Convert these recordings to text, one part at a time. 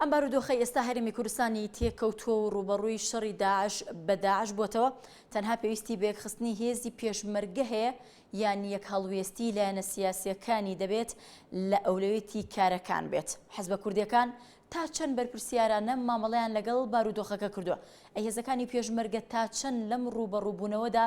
ئەم بارودۆخەی ئێستا هەرێمی کوردستانی تێکەوتووە و ڕووبەڕووی شەڕی داعش بە داعش بۆتەوە، تەنها پێویستی بە یەکخستنی هێزی پێشمەرگە هەیە یان یەک هەڵوێستی لایەنە سیاسیەکانی دەبێت لە ئەولەوێتی کارەکان بێت. حزبە کوردیەکان تا چەند بەرپرسیارانە مامەڵەیان لەگەڵ بارودۆخەکە کردووە؟ ئەی هێزەکانی پێشمەرگە تا چەند لەم ڕووبەڕووبوونەوەدا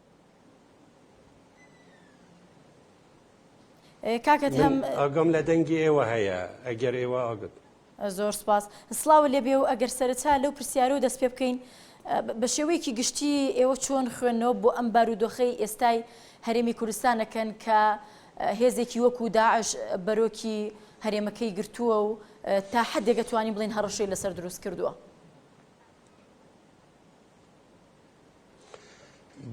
ئاگام لە دەنگی ئێوە هەیە ئەگەر ئێوە ئاگت. زۆر سپاس سلاو لێبێ و ئەگەر سەرەتا لەو پرسیارە و دەست پێ بکەین بە شێوەیەکی گشتی ئێوە چۆن خوێندنەوە بۆ ئەم بارودۆخەی ئێستای هەرێمی کوردستانەکەن کە هێزێکی وەکو داعش بەرۆکی هەرێمەکەی گرتووە و تا حدێک دەتوانین بڵین هەڕەشەی لەسەر دروست کردووە.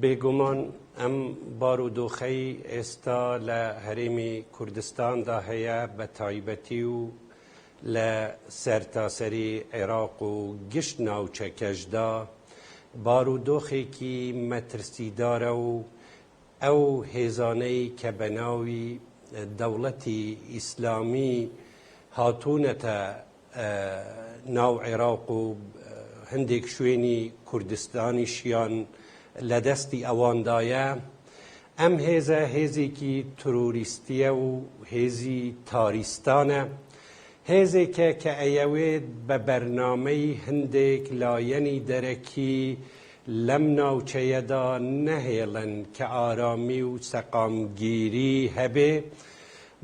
بێگومان ئەم بارودۆخەی ئێستا لە هەرێمی کوردستاندا هەیە بە تایبەتی و لە سەرتاسەری عێراق و گشت ناوچەکەشدا بارودۆخێکی مەترسیدارە و ئەو هێزانەی کە بە ناوی دەوڵەتی ئیسلامی هاتوونەتە ناو عێراق و هەندێک شوێنی کوردستانیشیان لە دەستی ئەواندایە، ئەم هێزە هێزێکی ترۆریستیە و هێزی تاریستانە، هێزێکە کە ئەیەوێت بە بەرنامەی هەندێک لایەنی دەرەکی لەم ناوچەیەدا نەهێڵن کە ئارامی و سەقامگیری هەبێ،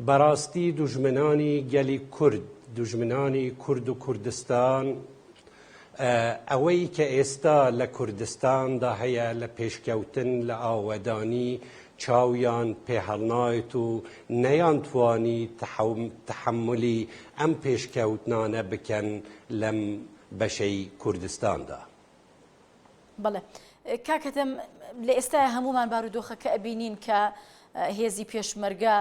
بەراستی دوژمنانی گەلی کورد دوژمنانی کورد و کوردستان ئەوەی کە ئێستا لە کوردستان دا هەیە لە پێشکەوتن لە ئاوەدانی چاویان پێ هەڵنایەت و نەیان توانی تەحەمولی ئەم پێشکەوتنانە بکەن لەم بەشەی کوردستان دا. بەڵێ کاک هەتەم لە ئێستای هەمومان بارودۆخەکە ئەبینین کە هێزی پێشمەرگە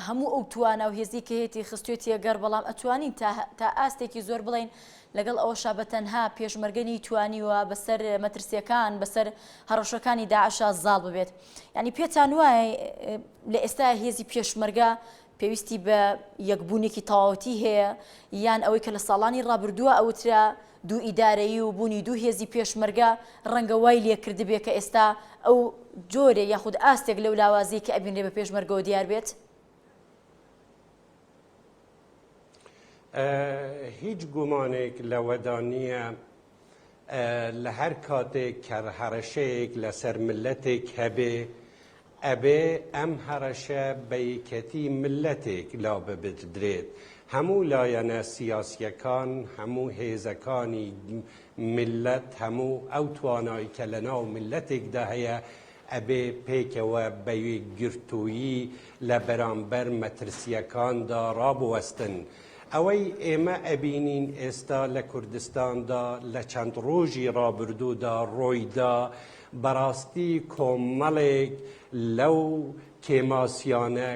هەموو ئەو توانا و هێزی کە هێتی خستێتیە گەڕ بەڵام ئەتوانین تا ئاستێکی زۆر بڵین لەگەڵ ئەوە شابە تەنها پێشمەرگەنی توانیوە بەسەر مەترسیەکان بەسەر هەڕەشەکانی داعشا زاڵ ببێت ینی پێتان وایە لە ئێستا هێزی پێشمەرگە پێویستی بە یەکبوونێکی تەواوەتی هەیە، یان ئەوەی کە لە ساڵانی ڕابردووە ئەوترا، دوو ئیدارەیی و بوونی دوو هێزی پێشمەرگە ڕەنگە وای لێکردبێ کە ئێستا ئەو جۆرێ یاخود ئاستێک لەو لاوازیەی کە ئەبینرێ بە پێشمەرگەوە دیار بێت؟ هیچ گومانێک لەوەدا نییە لە هەر کاتێک کە هەڕەشەیەک لەسەر میللەتێک هەبێ، ئەبێ ئەم هەڕەشە بە یەکێتی میللەتێک لاببردرێت. هەموو لایەنە سیاسییەکان، هەموو هێزەکانی میللەت، هەموو ئەو توانای کە لەناو میللەتێکدا هەیە، ئەبێ پێکەوە بە یەکگرتوویی لە بەرامبەر مەترسییەکاندا ڕابوەستن. ئەوەی ئێمە ئەبینین ئێستا لە کوردستاندا لە چەند ڕۆژی ڕابردوودا ڕۆیدا، بەڕاستی کۆمەڵێک لەو کێماسیانە،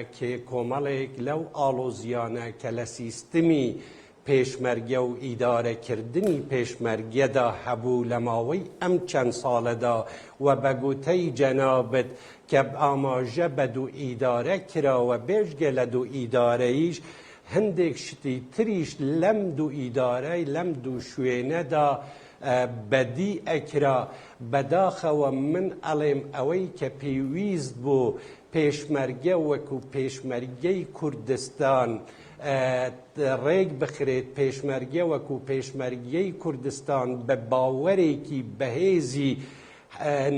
کۆمەڵێک لەو ئاڵۆزییانە کە لە سیستمی پێشمەرگە و ئیدارەکردنی پێشمەرگەدا هەبوو لە ماوەی ئەم چەند ساڵەدا و بە گوتەی جەنابت کە ئاماژە بە دوو ئیدارە کراوە بێجگە لە دوو ئیدارەیش هەندێک شتی تریش لەم دوو ئیدارە لەم دوو شوێنەدا بەدی ئەکرا بەداخەوە من ئەڵێم ئەوەی کە پێویست بوو پێشمەرگە وەکو پێشمەرگەی کوردستان ڕێک بخرێت پێشمەرگە وەکو پێشمەرگەی کوردستان بە باوەرێکی بەهێزی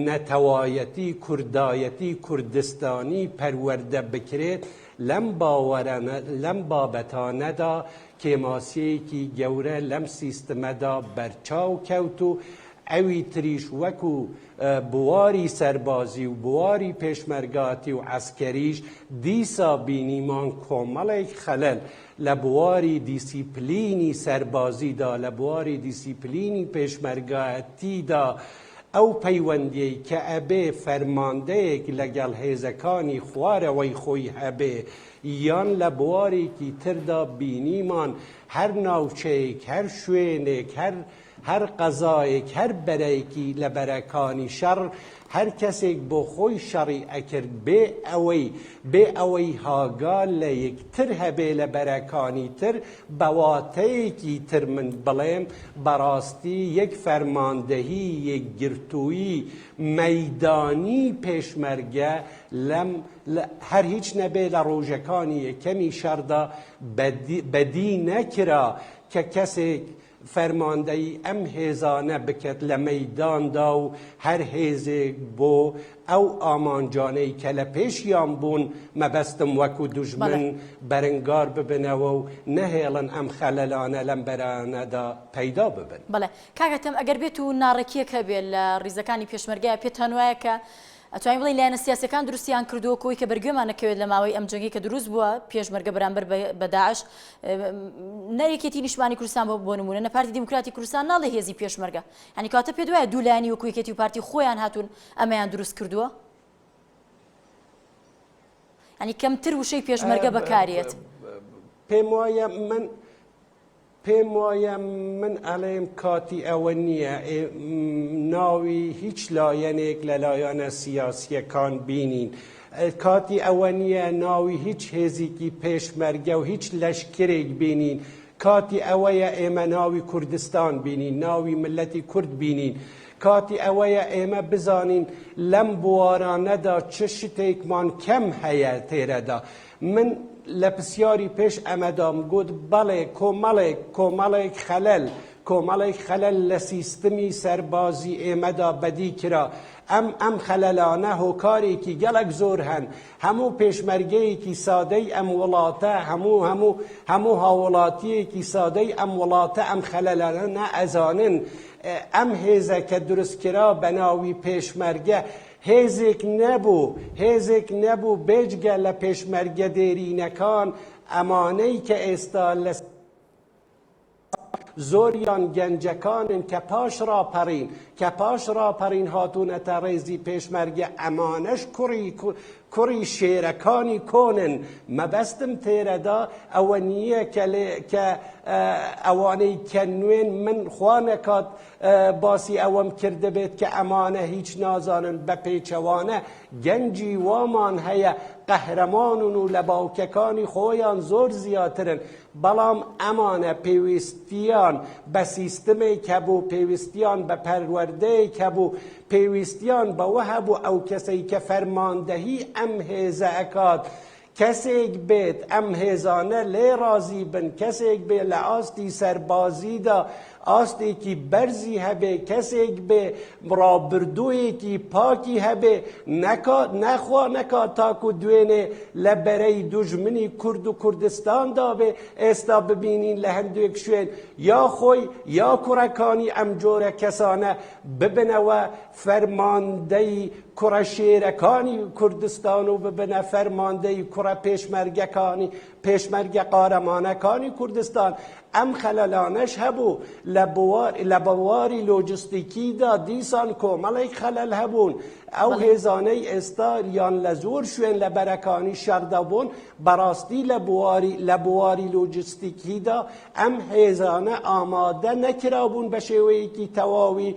نەتەوایەتی، کوردایەتی، کوردستانی پەروەردە بکرێت، لەم باوەرانە لەم بابەتانەدا کێماسیەیەکی گەورە لەم سیستمەدا بەرچاو کەوت و ئەوی تریش وەکو بواری سەربازی و بواری پێشمەرگاتی و عەسکەریش دیسا بینیمان کۆمەڵێک خەلەل لە بواری دیسیپلینی سەربازیدا لە بواری دیسیپلینی پێشمەرگایەتیدا ئەو پەیوەندیەی کە ئەبێ فەرماندەیەک لەگەڵ هێزەکانی خوارەوەی خۆی هەبێ یان لە بوارێکی تردا بینیمان هەر ناوچەیەک هەر شوێنێک هەر هەر قەزایەک هەر بەرەیەکی لە بەرەکانی شەڕ هەر کەسێک بۆ خۆی شەڕی ئەکرد بێ ئەوەی بێ ئەوەی هاگا لە یەک تر هەبێ لە بەرەکانی تر بە واتەیەکی تر من بڵێم بەڕاستی یەک فەرماندەهی یەکگرتووی مەیدانی پێشمەرگە لەم هەر هیچ نەبێ لە ڕۆژەکانی یەکەمی شەڕدا بە دی نەکرا کە کەسێک فەرماندەیی ئەم هێزانە بکەت لە مەیداندا و هەر هێزێک بۆ ئەو ئامانجانەی کە لە پێشیان بوون مەبەستم وەکو دوژمن بەرنگار ببنەوە و نەهێڵن ئەم خەلەلانە لەم بەرانەدا پەیدا ببن. بەڵێ کاک ئەتەم ئەگەر بێتو ناڕێکیەک هەبێت لە ڕیزەکانی پێشمەرگەیا پێتانوایە کە ئەتوانین بڵێین لایەنە سیاسیەکان دروستیان کردووە کۆی کە بەرگوێمان نەکەوێت لە ماوەی ئەم جەنگەی کە دروست بووە پێشمەرگە بەرامبەر بە داعش نە یەکێتی نیشمانی کوردستان بۆ بۆ نمونە نە پارتی دیموکراتی کوردستان ناڵێ هێزی پێشمەرگە هەنی کاتە پێ دوایە دوو لایانی وەکو یەکێتی و پارتی خۆیان هاتوون ئەمەیان دروست کردووە هەنی کەمتر وشەی پێشمەرگە بەکارێت پێم وایە من پێم وایە من ئەڵێم کاتی ئەوە نییە ناوی هیچ لایەنێک لە لایەنە سیاسییەکان بینین. کاتی ئەوە نییە ناوی هیچ هێزیکی پێشمەرگە و هیچ لەشکرێک بینین. کاتی ئەوەیە ئێمە ناوی کوردستان بینین، ناوی ملەتی کورد بینین. کاتی ئەوەیە ئێمە بزانین لەم بوارانەدا چ شتێکمان کەم هەیە تێرەدا. من لە پسیاری پێش ئەمەدام گوت بەڵێ کۆمەڵێک کۆمەڵێک خەلەل کۆمەڵێک خەلەل لە سیستمی سەربازی ئێمەدا بەدی کرا ئەم ئەم خەلەلانە هۆکارێکی گەڵک زۆر هەن هەموو پێشمەرگەیەکی سادەی ئەم وڵاتە هەموو هەموو هەموو هاوڵاتیەکی سادەی ئەم وڵاتە ئەم خەلەلانە نە ئەزانن ئەم هێزە کە دروستکرا بە ناوی پێشمەرگە هێزێک نەبوو، هێزێک نەبوو بێجگە لە پێشمەرگە دێرینەکان، ئەمانەی کە ئێستا لە زۆریان گەنجەکانن کە پاش ڕاپەڕین کە پاش ڕاپەڕین هاتوونەتە ڕێزی پێشمەرگە ئەمانەش کوڕی کوڕی شێرەکانی کۆنن مەبەستم تێرەدا ئەوە نییە کە ئەوانەی کە نوێن من خوا نەکات باسی ئەوەم کردبێت کە ئەمانە هیچ نازانن بە پێچەوانە گەنجی وامان هەیە قەهرەمانن و لە باوکەکانی خۆیان زۆر زیاترن بەڵام ئەمانە پێویستیان بە سیستمێک هەبوو پێویستیان بە پەروەردەیەک هەبوو پێویستیان بەوە هەبوو ئەو کەسەی کە فەرماندەهی ئەم هێزە ئەکات کەسێک بێت ئەم هێزانە لێی ڕازی بن، کەسێک بێ لە ئاستی سەربازیدا ئاستێکی بەرزی هەبێ، کەسێک بێ ڕابردوویەکی پاکی هەبێ، نەکات نەخوا نەکات تاکو دوێنێ لە بەرەی دوژمنی کورد و کوردستاندا بێ، ئێستا ببینین لە هەندێک شوێن یا خۆی یا کوڕەکانی ئەم جۆرە کەسانە ببنەوە فەرماندەی کوڕە شێرەکانی کوردستان و ببنە فەرماندەی کوڕە پێشمەرگەکانی پێشمەرگە قارەمانەکانی کوردستان ئەم خەلەلانەش هەبوو لە بوار لە بواری لۆجستیکیدا دیسان کۆمەڵێک خەلەل هەبوون ئەو هێزانەی ئێستا یان لە زۆر شوێن لە بەرەکانی شەڕدا بوون بەڕاستی لە بواری لە بواری لۆجستیکیدا ئەم هێزانە ئامادە نەکرابوون بە شێوەیەکی تەواوی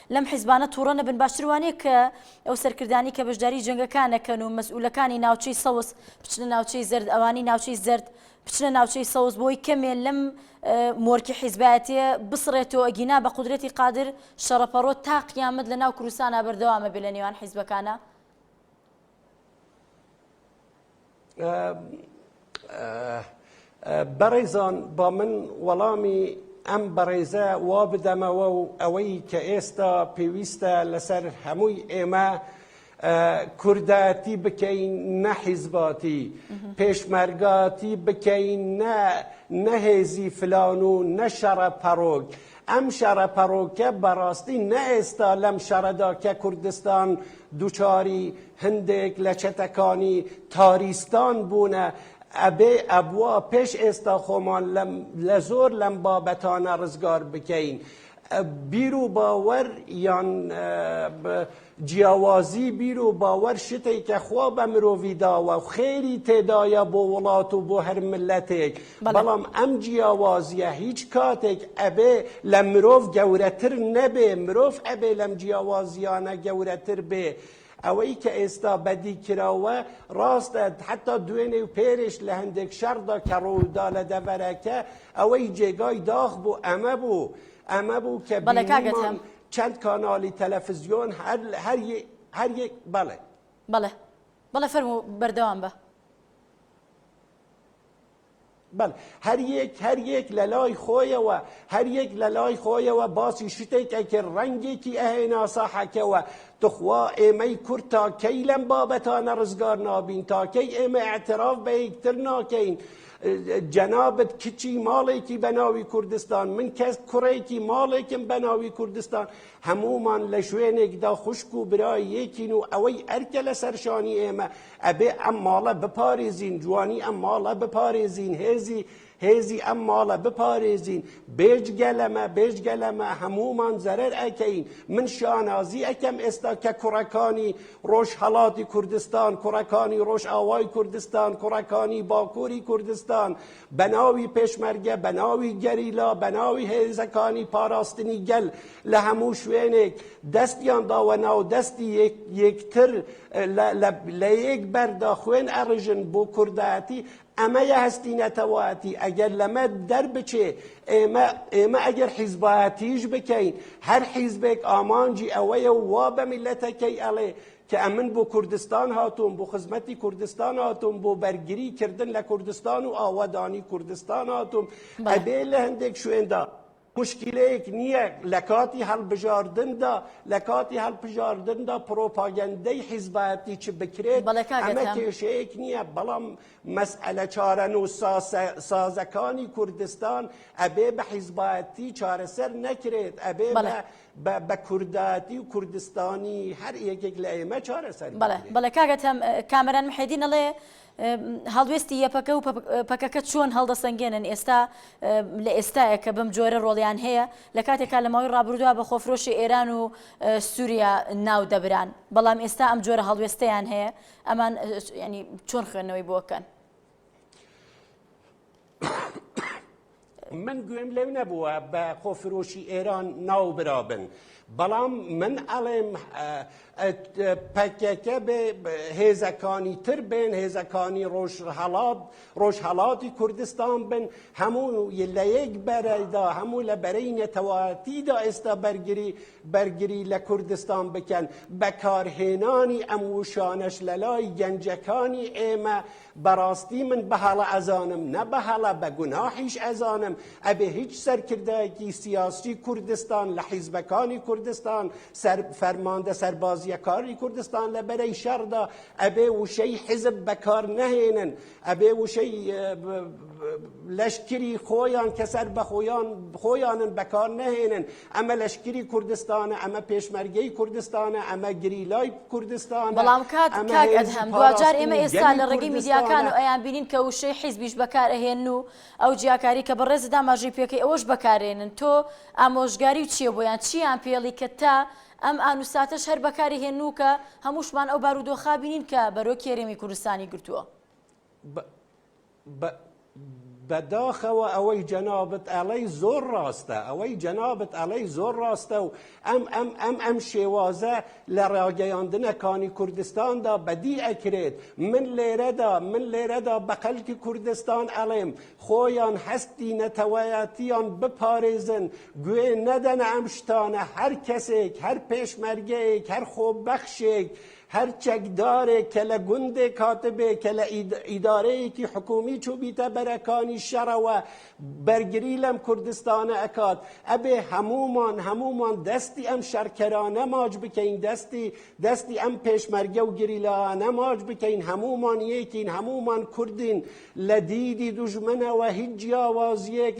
لەم حیزبانە توڕە نەبن باشتر وانیە کە ئەو سەرکردانی کە بەشداری جەنگەکانەکەن و مەسئولەکانی ناوچەی سەوز بچنە ناوچەی زەرد ئەوانی ناوچەی زەرد بچنە ناوچەی سەوز بۆی کەمێ لەم مۆرکی حیزبایەتێ بسڕێتەوە ئەگینا بە قدرەتی قادر شەڕەپەڕۆ تا قیامەت لە ناو کوردستانە بەردەوامە بێ لە نێوان حیزبەکانە بەڕێزان با من وەڵامی ئەم بەڕێزە وا بدەمەوە و ئەوەی کە ئێستا پێویستە لەسەر هەمووی ئێمە کوردایەتی بکەین نە حیزباتی پێشمەرگاتی بکەین نە نەهێزی فلان و نە شەڕە پەڕۆک ئەم شەڕە پەڕۆکە بەڕاستی نە ئێستا لەم شەڕەدا کە کوردستان دوچاری هەندێک لە چەتەکانی تاریستان بوونە ئەبێ ئەبوا پێش ئێستا خۆمان لە زۆر لەم بابەتانە ڕزگار بکەین بیر و باوەر یان جیاوازی بیر و باوەر شتێک کە خوا بە مرۆڤی داوە و خێری تێدایە بۆ وڵات و بۆ هەر ملەتێک بەڵام ئەم جیاوازیە هیچ کاتێک ئەبێ لە مرۆڤ گەورەتر نەبێ مرۆڤ ئەبێ لەم جیاوازیانە گەورەتر بێ ئەوەی کە ئێستا بەدی کراوە ڕاستە حتا دوێنێ و پێرش لە هەندێک شەڕدا کە ڕوودا لە دەڤەرەکە ئەوەی جێگای داخ بوو ئەمە بوو ئەمە بوو کە بینیمان چەند کاناڵی تەلەفزیۆن هەر یەک بەڵێ بەڵێ بەڵێ فەرموو بەردەوام بە. بەڵێ هەریەک هەریەک لە لای خۆیەوە هەریەک لە لای خۆیەوە باسی شتێک ئەکرد ڕەنگێکی ئەهێنا ساحەکەوە تخوا ئێمەی کورد تاکەی لەم بابەتانە ڕزگار نابین تاکەی ئێمە ئەتراف بە یەکتر ناکەین جەنابت کچی ماڵێکی بەناوی کوردستان من کەس کوڕێکی ماڵێکم بەناوی کوردستان هەمومان لە شوێنێکدا خوشک و برای یەکین و ئەوەی ئەرکە لە سەرشانی ئێمە ئەبێ ئەم ماڵە بپارێزین، جوانی ئەم ماڵە بپارێزین، هێزی هێزی ئەم ماڵە بپارێزین، بێجگە لەمە بێجگە لەمە هەموومان زەرەر ئەکەین، من شانازی ئەکەم ئێستا کە کوڕەکانی ڕۆژهەڵاتی کوردستان، کوڕەکانی ڕۆژئاوای کوردستان، کوڕەکانی باکووری کوردستان، بەناوی پێشمەرگە، بەناوی گەریلا، بەناوی هێزەکانی پاراستنی گەل لە هەموو شوێنێک دەستیان داوە ناو دەستی یەکتر لە یەک بەردا خوێن ئەڕژن بۆ کوردایەتی ئەمەیە هەستی نەتەوایەتی ئەگەر لەمە دەربچێ ئێمە ئێمە ئەگەر حیزبایەتیش بکەین هەر حیزبێک ئامانجی ئەوەیە وا بە میلەتەکەی ئەڵێ کە ئەمن بۆ کوردستان هاتووم بۆ خزمەتی کوردستان هاتووم بۆ بەرگری کردن لە کوردستان و ئاوەدانی کوردستان هاتووم ئەبێ لە هەندێک شوێندا مشکلەیەک نییە لە کاتی هەڵبژاردندا لە کاتی هەڵبژاردندا پرۆپاگەندەی حیزبایەتی چ بکرێت ئەمە کێشەیەک نییە بەڵام مەسئلە چارەن و سازەکانی کوردستان ئەبێ بە حیزبایەتی چارەسەر نەکرێت ئەبێ بە بە کورداتی و کوردستانی هەر یەکێک لە ئێمە چارەسەر بکرێت. بەڵێ بەڵێ کاک ئەتەم، کامەران محێدین ئەڵێ هەڵوێستی یەپەکە و پەکەکە چۆن هەڵدەسەنگێنن ئێستا لە ئێستایە کە بەم جۆرە ڕۆڵیان هەیە، لە کاتێکا لە ماوەی ڕابردووە بە خۆفرۆشی ئێران و سووریا ناو دەبران، بەڵام ئێستا ئەم جۆرە هەڵوێستەیان هەیە، ئەمان یانی چۆن خوێندنەوەی بۆ ئەکەن؟ من گوێم لەو نەبووە بە خۆفرۆشی ئێران ناوبرابن بەڵام من ئەڵێم پەکەکە بێ هێزەکانی تر بێن هێزەکانی ڕۆژهڵات ڕۆژهڵاتی کوردستان بن هەموو لە یەک بەرەدا هەموو لە بەرەی نەتەواتیدا ئێستا بەرگری بەرگری لە کوردستان بکەن، بەکارهێنانی ئەم ووشانەش لەلای گەنجەکانی ئێمە بەڕاستی من بەهەڵە ئەزانم، نە بەهەڵە بە گوناحیش ئەزانم، ئەبێ هیچ سەرکردایەکی سیاسی کوردستان لە حیزبەکانی کوردستان، سەر فەرماندە سەربازییەکانی کوردستان لە بەرەی شەڕدا ئەبێ ووشەی حیزب بەکارنەهێنن، ئەبێ وشەی لەشکری خۆیان کە سەر بە خۆیان خۆیانن بەکار نەهێنن ئەمە لەشکری کوردستانە ئەمە پێشمەرگەی کوردستانە ئەمە گریلای کوردستان بەڵام کاک کاک ئەدهەم دواجار ئێمە ئێستا لە ڕێگەی میدیاکان و ئەیان بینین کە وشەی حیزبیش بەکار ئەهێن و ئەو جیاکاری کە بەڕێزی داماژەی پێکەی ئەوەش بەکارێنن تۆ ئامۆژگاری و چییە بۆیان چییان پێڵی کە تا ئەم ئان و ساتەش هەر بەکاری هێنوو کە هەمووشمان ئەو بارودۆخە بینین کە بەرۆکی هەرێمی کوردستانی گرتووە. بە بە بەداخەوە ئەوەی جەنابت ئەڵێی زۆر ڕاستە، ئەوەی جەنابت ئەڵێی زۆر ڕاستە و ئەم ئەم ئەم ئەم شێوازە لە ڕاگەیاندنە کانی کوردستاندا بەدی ئەکرێت، من لێرەدا من لێرەدا بە خەلکی کوردستان ئەڵێم خۆیان هەستی نەتەوەیەتیان بپارێزن، گوێ نەدەنە ئەم شتانە هەر کەسێک هەر پێشمەرگەیەک هەر خۆبەخشێک هەر چەکدارێک کە لە گوندێک هاتبێ کە لە ئیدارەیەکی حکومی چوبیتە بەرەکانی شەڕەوە بەرگری لەم کوردستانە ئەکات ئەبێ هەمومان هەمومان دەستی ئەم شەڕکەرانە ماچ بکەین دەستی دەستی ئەم پێشمەرگە و گریلانە ماچ بکەین هەمومان یەکین هەمومان کوردین لە دیدی دوژمنەوە هیچ جیاوازییەک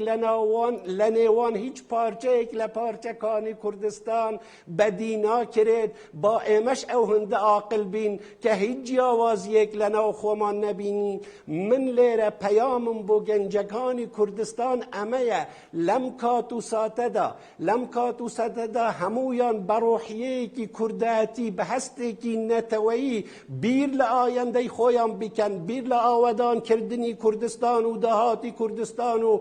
لە نێوان هیچ پارچەیەک لە پارچەکانی کوردستان بەدی ناکرێت، با ئێمەش ئەو هەندە ئاقل بین کە هیچ جیاوازییەک لە ناو خۆمان نەبینین، من لێرە پەیامم بۆ گەنجەکانی کوردستان ئەمەیە، لەم کات و ساتەدا لەم کات و سەدەدا هەموویان بە ڕۆحیەیەکی کوردایەتی، بە هەستێکی نەتەوەیی بیر لە ئایەندەی خۆیان بکەن، بیر لە ئاوەدانکردنی کوردستان و داهاتی کوردستان و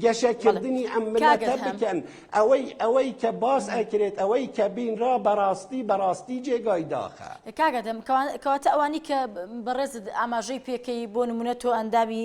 گەشەکردنی ئەم مللەتە بکەن. ئەوەی ئەوەی کە باس ئەکرێت، ئەوەی کە بینرا بە ڕاستی بە ڕاستی جێگای داخە. کاک ئەدەم، کەواتە ئەوانەی کە بەڕێزت ئاماژەی پێکەی، بۆ نموونە تۆ ئەندامی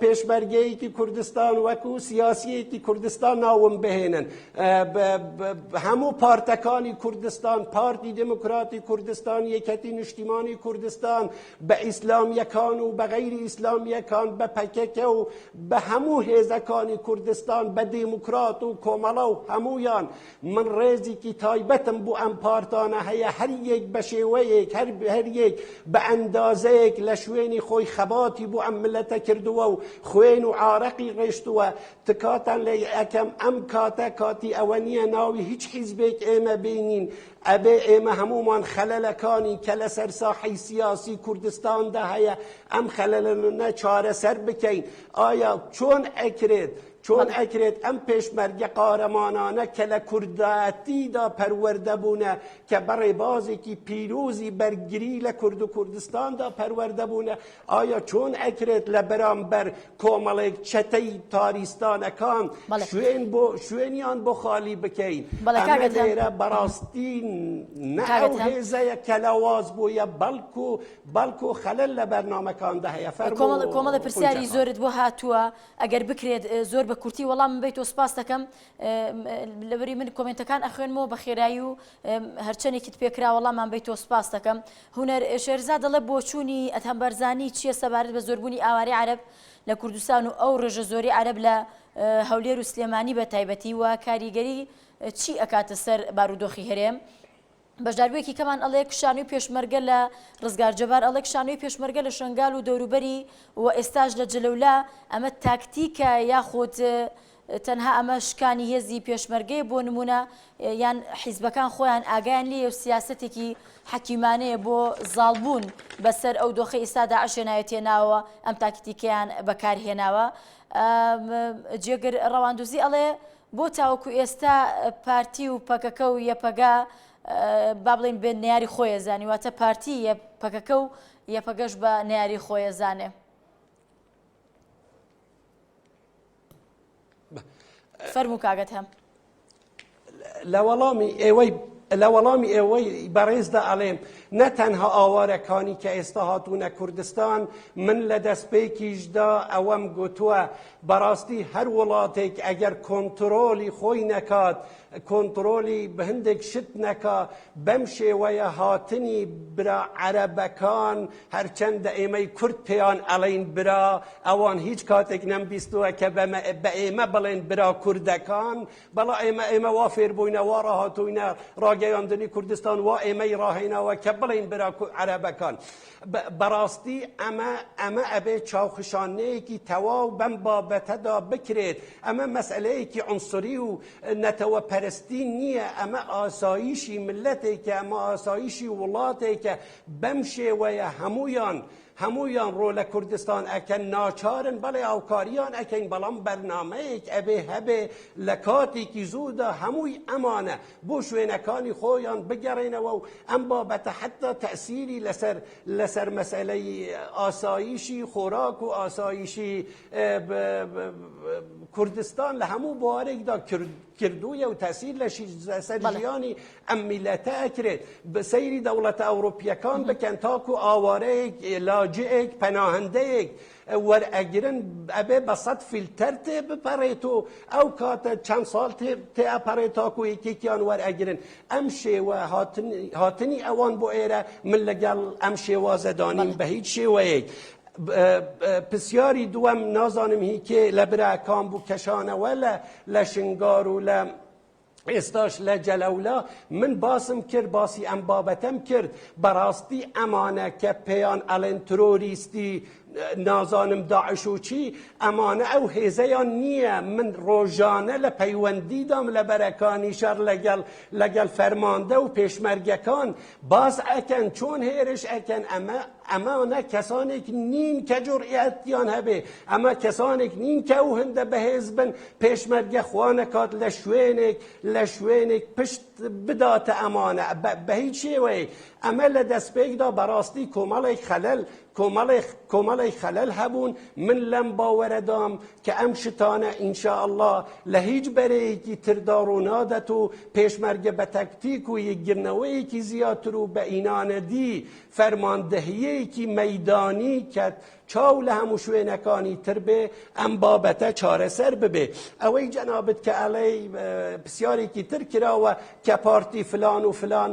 پێشمەرگەیەکی کوردستان وەکو سیاسیەکی کوردستان ناوم بهێنن هەموو پارتەکانی کوردستان پارتی دموکراتی کوردستان یەکەتی نیشتیمانی کوردستان بە ئیسلامیەکان و بە غەیری ئیسلامیەکان بە پەکەکە و بە هەموو هێزەکانی کوردستان بە دیموکرات و کۆمەڵە و هەمویان من ڕێزیکی تایبەتم بۆ ئەم پارتانە هەیە هەر یەک بە شێوەیەک هەر هەر یەک بە ئەندازەیەک لە شوێنی خۆی خەباتی بۆ ئەم ملەتە کردووە و خوێن و عارەقی ڕێشتووە تکاتان لە ئەکەم ئەم کاتە کاتی ئەوە نییە ناوی هیچ حیزبێک ئێمە بینین ئەبێ ئێمە هەمومان خەلەلەکانی کە لەسەر ساحی سیاسی کوردستاندا هەیە ئەم خەلەلەنە چارەسەر بکەین ئایا چۆن ئەکرێت چۆن ئەکرێت ئەم پێشمەرگە قارەمانانە کە لە کوردایەتیدا پەروەردە بوونە، کە بە ڕێبازێکی پیرۆزی بەرگری لە کورد و کوردستاندا پەروەردە بوونە، ئایا چۆن ئەکرێت لە بەرامبەر کۆمەڵێک چەتەی تاریستانەکان شوێن بۆ شوێنیان بۆ خالی بکەین؟ ئەمە لێرە بەڕاستی نە ئەو هێزەیە کە لاواز بوویە، بەڵکو بەڵکو خەلەل لە بەرنامەکاندا هەیە. فەرموو. کۆمەڵە پرسیاری زۆرت بۆ هاتووە، ئەگەر بکرێت زۆر بە کورتی وەڵامم بەیتۆ سپاس دەکەم لەبری من کۆمنتەکان ئەخوێنمەوە بە خێرایی و هەرچەندێکیت پێکرا وەڵامان بەیتۆ سپاس دەکەم هوەر شێرزا دەڵێ بۆچوونی ئەتهەم بەرزانی چییە سەبارەت بە زۆربوونی ئاواری عرب لە کوردستان و ئەو ڕێژە زۆری عرب لە هەولێر و سلێمانی بە تایبەتی و کاریگەری چی ئەکاتە سەر بارودۆخی هەرێم بەشداربوویەکی کەمان ئەڵێ کشانوی پێشمەرگە لە ڕزگار جەبار ئەڵێ کشانوی پێشمەرگە لە شەنگال و دەوروبەری و ئێستاش لە جلەولا ئەمە تاکتیکە یاخود تەنها ئەمە شکانی هێزی پێشمەرگەیە بۆ نمونە یان حیزبەکان خۆیان ئاگایان لێ و سیاستێکی حەکیمانەیە بۆ زاڵبوون بەسەر ئەو دۆخی ئیسادا عشێنایەتێ ناوە ئەم تاکتیکیان بەکارهێناوە جێگر ڕەواندوزی ئەڵێ بۆ تاوەکو ئێستا پارتی و پەکەکە و یەپەگە با بڵێین بێ نەیاری خۆیە زانی واتە پارتی یە پەکەکە و یەپەگەش بە نەیاری خۆیە زانێ فەرمو کاگەت هەم لە وەڵامی ئێوەی لە وەڵامی ئێوەی بەڕێزدا ئەڵێم نە تەنها ئاوارەکانی کە ئێستا هاتوونە کوردستان من لە دەستپێکیشدا ئەوەم گوتووە بەڕاستی هەر وڵاتێک ئەگەر کۆنتڕۆڵی خۆی نەکات کۆنتڕۆڵی هەندێک شت نەکا بەم شێوەیە هاتنی برا عەرەبەکان هەرچەندە ئێمەی کورد پێیان ئەڵین برا ئەوان هیچ کاتێک نەمبیستووە کە بە ئێمە بڵێن برا کوردەکان بەڵا ئێمە ئێمە وا فێربووینە وا ڕاهاتووینە ڕاگەیاندنی کوردستان وا ئێمەی ڕاهێناوە کە بڵین برا عەرەبەکان بەڕاستی ئەمە ئەمە ئەبێت چاوخشانەیەکی تەواو بەم بابەتەدا بکرێت ئەمە مەسئلەیەکی عنصری و نەتەوە پەرستی نییە ئەمە ئاساییشی ملەتێکە ئەمە ئاساییشی وڵاتێکە بەم شێوەیە هەمویان هەمویان ڕۆ لە کوردستان ئەکەن ناچارن بەڵێ هاوکاریان ئەکەین بەڵام بەرنمەیەک ئەبێ هەبێ لە کاتێکی زوودا هەمووی ئەمانە بۆ شوێنەکانی خۆیان بگەڕێنەوە و ئەم بابەتە حەتا تەئسیری لەسەر لەسەر مەسەلەی ئاسایشی خۆراک و ئاسایشی کوردستان لە هەموو بوارێکدا کردوویە و تەسیر لە سەر ژیانی ئەم میلەتە ئەکرێت بە سەیری دەوڵەتە ئەوروپیەکان بکەن تاکو ئاوارەیەک لاجئێک پەناهندەیەک وەرئەگرن ئەبێ بە سەد فیلتەر تێ بپەڕێت و ئەو کاتە چەند ساڵ تێ ئەپەڕێت تاکو یەکێکیان وەرئەگرن ئەم شێوە هاتنی ئەوان بۆ ئێرە من لەگەڵ ئەم شێوازە دانیم بە هیچ شێوەیەک پرسیاری دووەم نازانم هیکێ لە براکان بوو کەشانەوە لە لە شنگار و لە ئێستاش لە جەلەولا من باسم کرد باسی ئەم بابەتەم کرد بەڕاستی ئەمانە کە پێیان ئەڵێن ترۆریستی نازانم داعش و چی ئەمانە ئەو هێزەیان نییە من ڕۆژانە لە پەیوەندیدام لە بەرەکانی شەر لەگەڵ لەگەڵ فەرماندە و پێشمەرگەکان باس ئەکەن چۆن هێرش ئەکەن ئەمە ئەمانە کەسانێک نین کە جوڕئەتیان هەبێ ئەمە کەسانێک نین کە و هەندە بەهێز بن پێشمەرگە خوانەکات لە شوێنێک لە شوێنێک پشت بداتە ئەمانە بە هیچ شێوەیە ئەمە لە دەستپێکدا بەڕاستی کۆمەڵێک خەلەل کۆمەڵێک کۆمەڵێک خەلەل هەبوون من لەم باوەرەدام کە ئەم شتانە ئینشاءاللە لە هیچ بەرەیەکی تردا ڕوونادەت و پێشمەرگە بە تەکتیک و یەکگرنەوەیەکی زیاتر و بە ئینانەدی فەرماندەهیەیەکی مەیدانی کە چاو لە هەموو شوێنەکانی تر بێ ئەم بابەتە چارەسەر ببێ ئەوەی جەنابت کە ئەڵێ پرسیارێکی تر کراوە کە پارتی فلان و فلان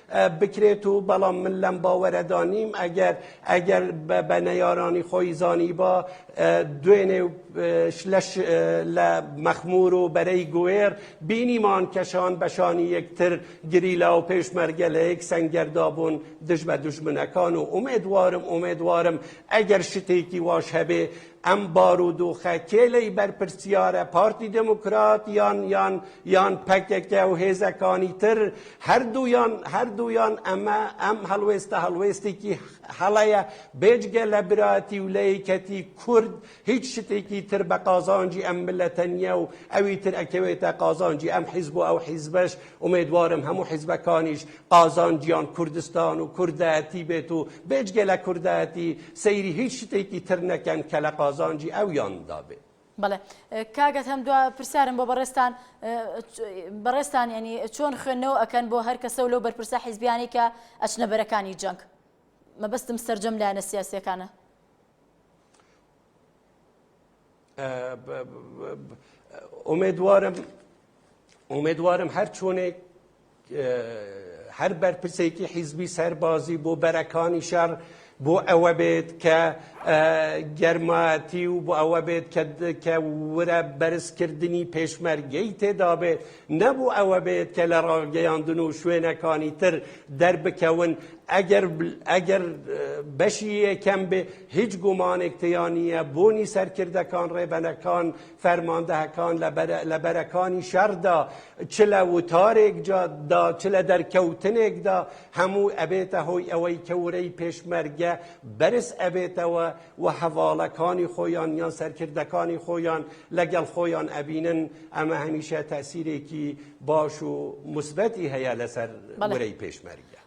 بکرێت و بەڵام من لەم باوەرەدا نیم ئەگەر ئەگەر بە نەیارانی خۆی زانیبا دوێنێ لەش لە مەخمور و بەرەی گوێر بینیمان کەشان بەشانی یەکتر گریلا و پێشمەرگە لە یەک سەنگەردا بوون دژ بە دوژمنەکان و ئومێدوارم ئومێدوارم ئەگەر شتێکی واش هەبێ ئەم بارودۆخە کێ لێی بەرپرسیارە، پارتی دێموکرات یان یان یان پەکەکە و هێزەکانی تر، هەردوویان هەردوویان ئەمە ئەم هەڵوێستە هەڵوێستێکی هەڵەیە، بێجگە لە برایەتی و لە یەکەتی کورد هیچ شتێکی تر بە قازانجی ئەم میللەتە نییە و ئەوی تر ئەکەوێتە قازانجی ئەم حیزب و ئەو حیزبەش ئومێدوارم هەموو حیزبەکانیش قازانجیان کوردستان و کوردایەتی بێت و بێجگە لە کوردایەتی سەیری هیچ شتێکی تر نەکەن کە لە قازانجی ئەویان دا بێت. بەڵێ کاک ئەدهەم دوا پرسیارم بۆ بەڕێستان بەڕێستان ینی چۆن خوێندنەوە ئەکەن بۆ هەر کەسە و لەو بەرپرسە حیزبیانی کە ئەچنە بەرەکانی جەنگ مەبەستم سرجەم لایەنە سیاسیەکانە ئومێدوارم هەر چۆنێک هەر بەرپرسێکی حیزبی سەربازی بۆ بەرەکانی شەڕ بۆ ئەوە بێت کە گەرمایەتی و بۆ ئەوە بێت کە ورە بەرزکردنی پێشمەرگەی تێدا بێت نەبوو ئەوە بێت کە لە ڕاگەیاندن و شوێنەکانی تر دەربکەون ئەگەر ئەگەر بەشی یەکەم بێ هیچ گومانێک تیا نییە بوونی سەرکردەکان، ڕێبەنەکان، فەرماندهکان لە بەرەکانی شەڕدا، چ لە وتارێکدا، چ لە دەرکەوتنێکدا، هەموو ئەبێتە هۆی ئەوەی کە ورەی پێشمەرگە بەرز ئەبێتەوە و هەڤاڵەکانی خۆیان یان سەرکردەکانی خۆیان لەگەڵ خۆیان ئەبینن، ئەمە هەمیشە تەئسیرێکی باش و موسبەتی هەیە لەسەر ورەی پێشمەرگە.